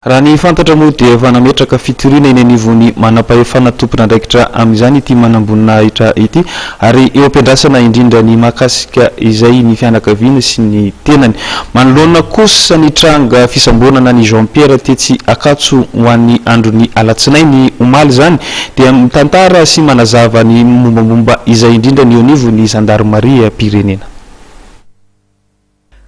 Raha ny fantatra moa dia efa nametraka fitoriana eny anivon'ny manampahefana tompon'andraikitra amin'izany ity manamboninahitra ity ary eo am-piandrasana indrindra ny mahakasika izay ny fianakaviany sy ny tenany. Manoloana kosa ny tranga fisamborana an'i Jean Pierre tetsy Ankatso ho an'ny andron'ny alatsinainy omaly izany dia mitantara sy manazava ny mombamomba izay indrindra ny eo anivon'ny zandarimariam-pirenena.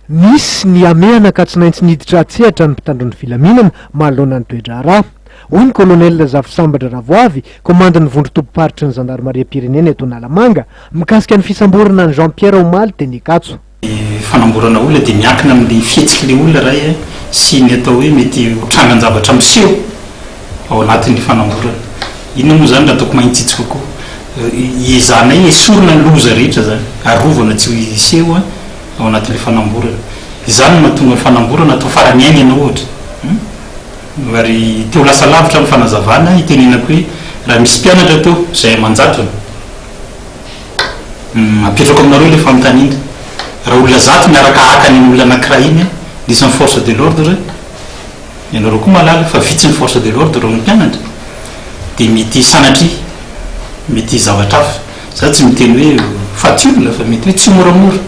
Nisy ny hamehana ka tsy naintsy niditra an-tsehatra ny mpitandro ny filaminana manoloana ny toe-draharaha, hoy ny Kolonely Razafy Sambatra Ravoavy, komandin'ny vondron-tobim-paritry ny zandarimariam-pirenena eto Analamanga, mikasika ny fisamborana an'i Jean Pierre omaly teny Ankatso. Ny fanamborana olona dia miankina amin'ny fihetsik'ilay olona iray sy ny atao hoe mety ho trangan-javatra miseho ao anatin'ny fanamborana. Inona moa izany raha ataoko mahitsitsy kokoa? Hiezahanay esorina ny loza rehetra izany, arovana tsy ho hiseho. ao anatin'ilay fanamborana. Izany no nahatonga ny fanamborana hatao farany aina ianao ohatra. Ary te ho lasa lavitra amin'ny fanazavana aho, itenenako hoe raha misy mpianatra teo izay aman-jatony, apetrako aminareo ilay fanontaniana, raha olona zato miaraka haka an'iny olona anankiray iny an, dia isan'ny force de l'ordre, ianareo koa mahalala fa vitsy ny force de l'ordre raha ny mpianatra, dia mety sanatria mety zavatra hafa. Za tsy miteny hoe faty olona fa mety hoe tsimoramora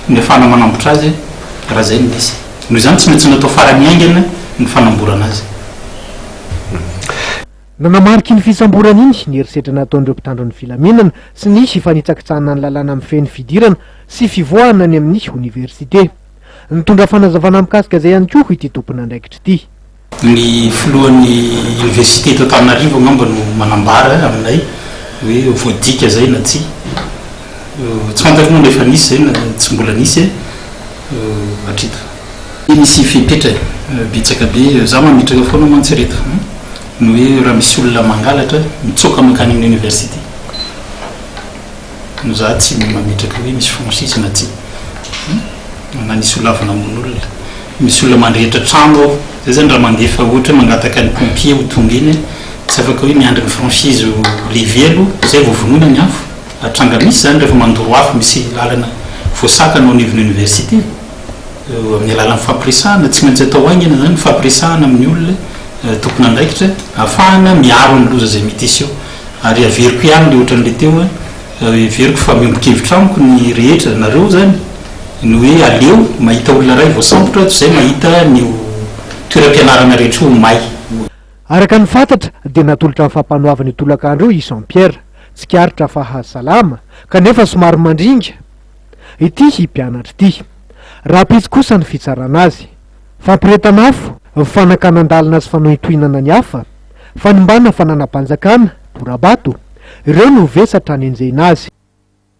ny afahana manambotra azy raha zay no izy. Noho izany tsy maintsy natao farany haingana ny fanamborana azy. Nanamarika iny fisamborana iny ny herisetra nataon'ireo mpitandro ny filaminana sy ny fanitsakitsahana ny lalàna mifehy ny fidirana sy fivoahana any amin'ny oniversite. Nitondra fanazavana mikasika izay ihany koa ity tompon'andraikitra ity. Ny filohan'ny université eto Antananarivo angamba no manambara aminay hoe voadika zay na tsia. Tsy fantako moa na efa nisy zay na tsy mbola nisy e. Hatreto. Misy fepetra e, betsaka be, za mametraka foana mantsy ireto, ny hoe raha misy olona mangalatra mitsoaka mankany amin'ny université no za tsy mametraka hoe misy franchise na tsia na nisy olona avy namono olona. Misy olona mandrehitra trano ao. Zay zany raha mandefa ohatra hoe mangataka ny pompier ho tonga eny a, tsy afaka hoe miandry ny franchise ho lever aloha zay vao vonoina ny afo ary tranga misy zany rehefa mandoro afo misy lalana voasakana ao anivon'ny université amin'ny alalan'ny fifampiresahana tsy maintsy atao haingana zany ny fifampiresahana amin'ny olona tompon'andraikitra afahana miaro ny loza zay mety hiseho ary averiko ihany le ohatran'le teo a Heveriko fa miombon-kevitra amiko ny rehetra, nareo izany, ny hoe aleo mahita olona iray voasambotra toy izay mahita ny ho toeram-pianarana rehetra ho may. Araka ny fantatra dia natolotra ny fampanoavana io tolakandro io i Jean Pierre, tsikaritra fa haha salama, kanefa somary mandringa ity mpianatra ity. Rahampitso kosa ny fitsarana azy. Fampirehetan'afo, fanakanan-dalana sy fanohintohinana ny hafa, fanimbàna fananam-panjakana, dora-bato, ireo no vesatra anenjehina azy.